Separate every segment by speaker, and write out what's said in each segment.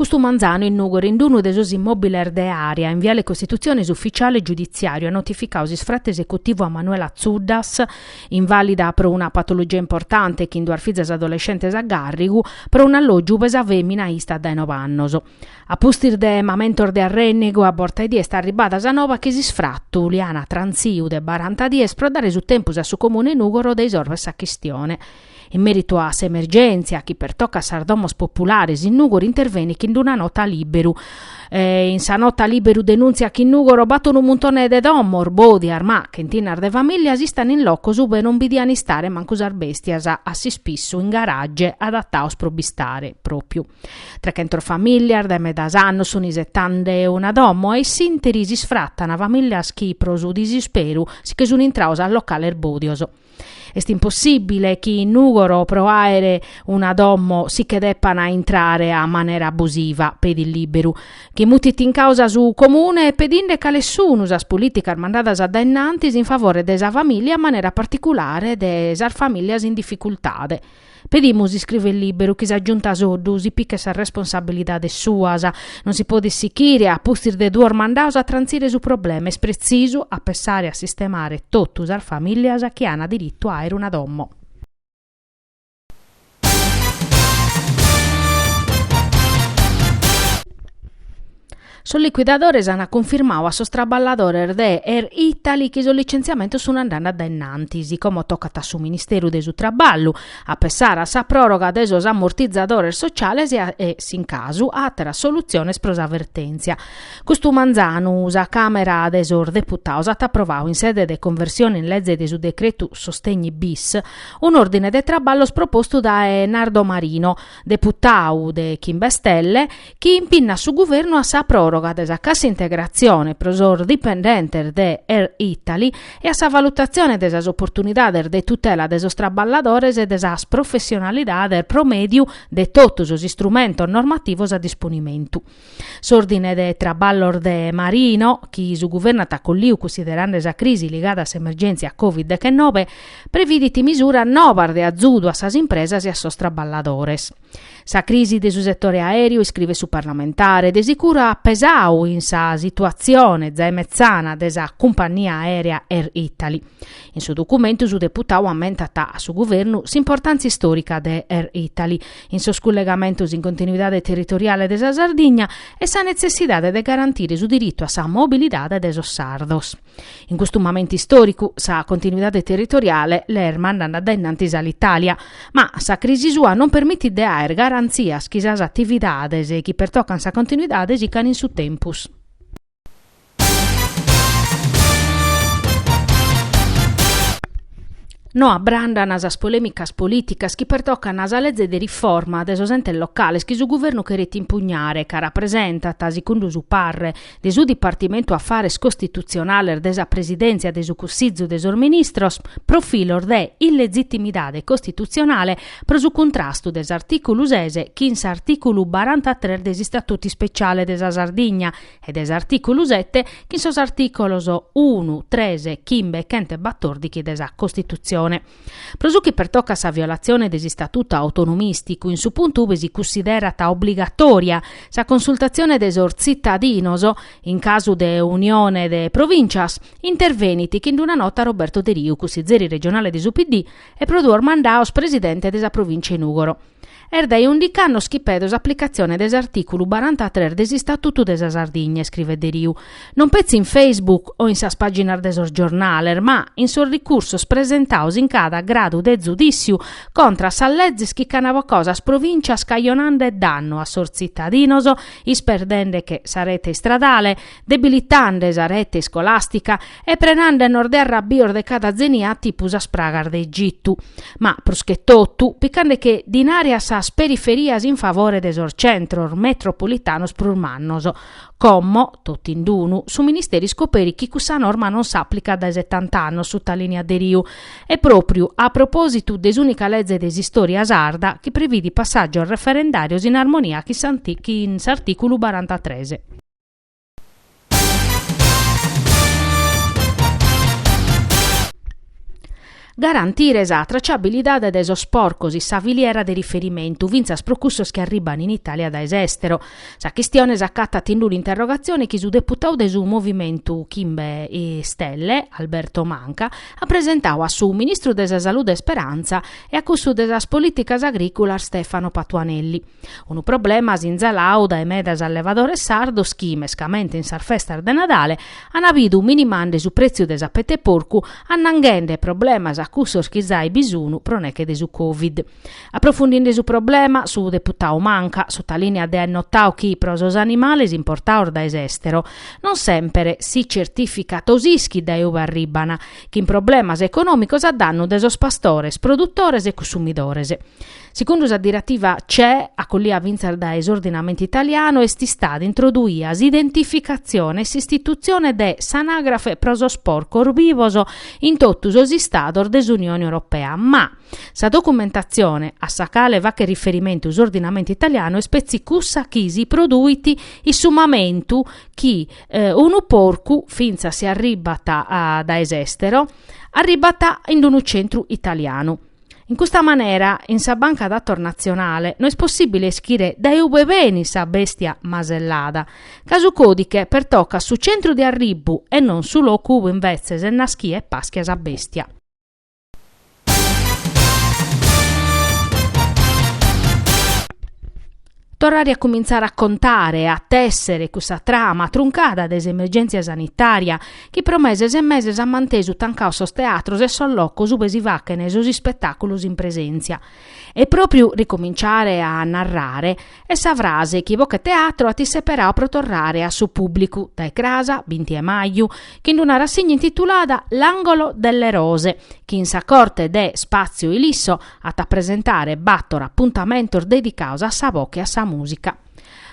Speaker 1: Custu manzanu in Nùgoro in unu de sos immòbiles de Area in viale Costitutzione s'ufitziale giuditziàriu at notificadu s'isfratu esecutivu a Manuela Zuddas, invàlida pro una patologia importante chin duas fizas adolescentes a gàrrigu, pro un'allògiu ube sa fèmina istat dae nobe annos. A pustis de mamentos de arrènnegu a borta 'e die est arribada sa noba chi s'isfratu li an transiu de baranta dies pro dare su tempus a su Comune de Nùgoro de isorver sa chistione. In mèritu a s'emergèntzia chi pertocat sas domos populares in Nùgoro intervenit chin una nota Lìberu. In sa nota Lìberu denùntziat chi in Nùgoro b'at unu muntone de domos, bòdias, ma, chentinas de famìlias istan in locos ue non bi diant istare mancu sas bèstias, a s'ispissu in garage adatados pro b'istare, pròpiu. Trechentas famìlias dae medas annos sunt isetende una domo e s'ìnteri s'isfratan famìlias chi pro su disisperu si che sunt intradas a locales bòdios. Est impossìbile chi in Nùgoro pro àere una domo si che depan intrare a manera abusiva, pedit Lìberu, chi mutit in càusa su Comune pedinde cales sunu sas polìticas mandadas dae innantis in favore de sa famìlia a manera particulare de sas famìlias in dificultade. Pedimus iscrivet Lìberu chi sa giunta Soddu si pichet sas responsabilidades suas. Non si podit sichire, a pustis de duos mandados, a trantzire su problema, est pretzisu a pensare a sistemare totu sas famìlias chi ana diritu a aere una domo. Sos licuidadores ant cunfirmadu a sos traballadores de Air Italy chi sos licenziamentos sun andende a dae innantis, como tocat a su Ministeru de su Traballu, a pessare a sa pròroga de sos ammortizadores sociales e, s'in casu, a àteras solutziones pro sa vertèntzia. Custu manzanu sa Càmera de sos Deputados at aprovadu in sede de conversione in leze de su decretu sostegni bis un'òrdine de traballos propostu dae Nardo Marino, deputadu de Chimbe Stelle, chi impinnat su Guvernu a sa pròroga de sa cassa integratzione pro sos dipendentes de Air Italy e a sa valutatzione de sas oportunidades de tutela de sos traballadores e de sas professionalidades pro mèdiu de totu sos istrumentos normativos a disponimentu. S'Òrdine de Traballos de Marino, chi su Guvernu at acolliu cussiderende sa crisi ligada a s'emergèntzia Covid dechenobe, previdit misuras nobas de azudu a sas impresas e a sos traballadores. Sa crisi de su setore aèreu, iscrivet su parlamentare, de sicuru at pesadu in sa situatzione zae metzana de sa cumpannia aèrea Air Italy. In su documentu su deputadu ammentat a su Guvernu s'importàntzia istòrica de Air Italy in sos cullegamentos in continuidade territoriale de sa Sardigna e sa netzessidade de garantire su diritu a sa mobilidade de sos sardos. In custu mamentu istòricu sa continuidade territoriale l'est mandande a dae innantis Alitalia, ma sa crisi sua non permitit de àere garantzias chi sas atividades chi pertocant sa continuidade sicant in su tempus. No abrandan sas polèmicas polìticas chi pertocant a sa lege de riforma de sos entes locales chi su Guvernu cheret impugnare ca rapresentat, segundu su parre de su Dipartimentu Afares Costitutzionales de sa Presidèntzia de su Cussìgiu de sos Ministros, profilos de illegitimidade costitutzionale pro su cuntrastu de s'artìculu ses chin s'artìculu barantatres de s'Istatutu Ispeciale de sa Sardigna e de s'artìculu sete chin sos artìcolos unu, tres, chimbe e chent'e batòrdighi de sa Costitutzione. Pro su chi pertocat sa violatzione de s'istatutu autonomìsticu, in su puntu ubi si cussiderat obligatòria sa consultatzione de sos tzitadinos, in casu de unione de provìntzias, intervenit chin d'una nota Roberto Deriu, cussizeri regionale de su PD e pro duos mandados presidente de sa provìntzia 'e Nùgoro. Est dae undic'annos chi pedo s'aplicatzione de s'artìculu barantatres de s'Istatutu de sa Sardigna, iscrivet Deriu, non petzi in Facebook o in sas pàginas de sos giornales, ma in sos ricursos presentados in cada gradu de zudìssiu contra a sas lezes chi ch'an bocadu sas provìntzias cajonande dannu a sos tzitadinos isperdende che sa rete istradale debilitande sa rete iscolàstica e prenande·nos de arrabios de cada tzenia tipu sas pragas de Egitu, ma pruschetotu picande che dinare a sas periferias in favore de sos centros metropulitanos prus mannos. Como, totind'unu, su Ministeri iscoperit chi cussa norma non s'aplicat dae setant'annos sutalìniat Deriu, e pròpriu a propòsitu de s'ùnica leze de s'istòria sarda chi previdit passàgios referendàrios in armonia chin s'artìculu barantatres. Garantire sa traciabilidade de sos porcos in sa filiera de riferimentu, fintzas pro cussos chi arribban in Itàlia dae s'èstero. Sa chistione s'acatat in d'un'interrogatzione chi su deputadu de su Movimentu Chimbe Stelle, Alberto Manca, at presentadu a su ministru de sa Salude Speranza e a cussu de sas Polìticas Agrìculas Stefano Patuanelli. Unu problema sinzalau dae medas allevadores sardos chi, mescamente in sas festas de Nadale, an bidu minimande su pretziu de sa peta 'e porcu annanghende problemas a cussos chi zai bi sunu pro neche de su Covid. Aprofundinde su problema, su deputau Manca, sutalìniat de àer notau chi pro sos animales importados dae s'èstero, non semper si certìficat o s'ischit dae ue arribban, chin problemas econòmicos a dannu de sos pastores, produtores e cussumidores. Segundu sa diretiva CE acollia fintzas dae s'ordinamentu italianu est istada introduia s'identificatzione e s'istitutzione de s'anagrafe pro sos porcos bivos in totu sos Istados de s'Unione Europea, ma sa documentatzione a sa cale faghet riferimentu s'ordinamentu italianu est petzi cussa chi si produit in su mamentu chi unu porcu, fintzas si arribat dae s'èstero, arribat in unu centru italianu. In custa manera, in sa banca datos natzionale no est possìbile ischire dae ue benit sa bèstia masellada, ca su còdighe pertocat su centru de arribbu e non su locu ue imbetzes est naschia e paschia sa bèstia. Torrare a cumintzare a contare e a tèssere cussa trama truncada de s'emergèntzia sanitària chi pro meses e meses at mantesu tancados sos teatros e sos locos ube si fachen sos ispetàculos in presèntzia. E pròpiu ricominciare a narrare est sa frase chi Bocheteatro at isseperadu pro torrare a su pùblicu dae cras, binti 'e maju, chin d'una rassìgna intitulada L'angolo delle rose chi in sa corte de Spazio Ilisso at a presentare bator apuntamentos dedicados a sa boche e a sa mùsica.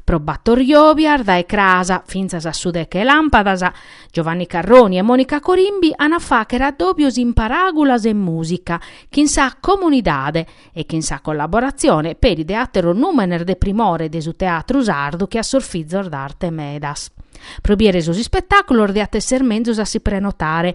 Speaker 1: Pro bator jòbias, dae cras fintzas a su deche 'e làmpadas, Giovanni Carroni e Monica Corimbi an a fàghere addòbios in paràgulas e mùsica chin sa comunidade e chin sa collaboratzione peri de àteros nùmenes de primore de su teatru sardu che a sos Fizos d'Arte Medas. Pro bìdere sos ispetàculos diat èssere menzus a si prenotare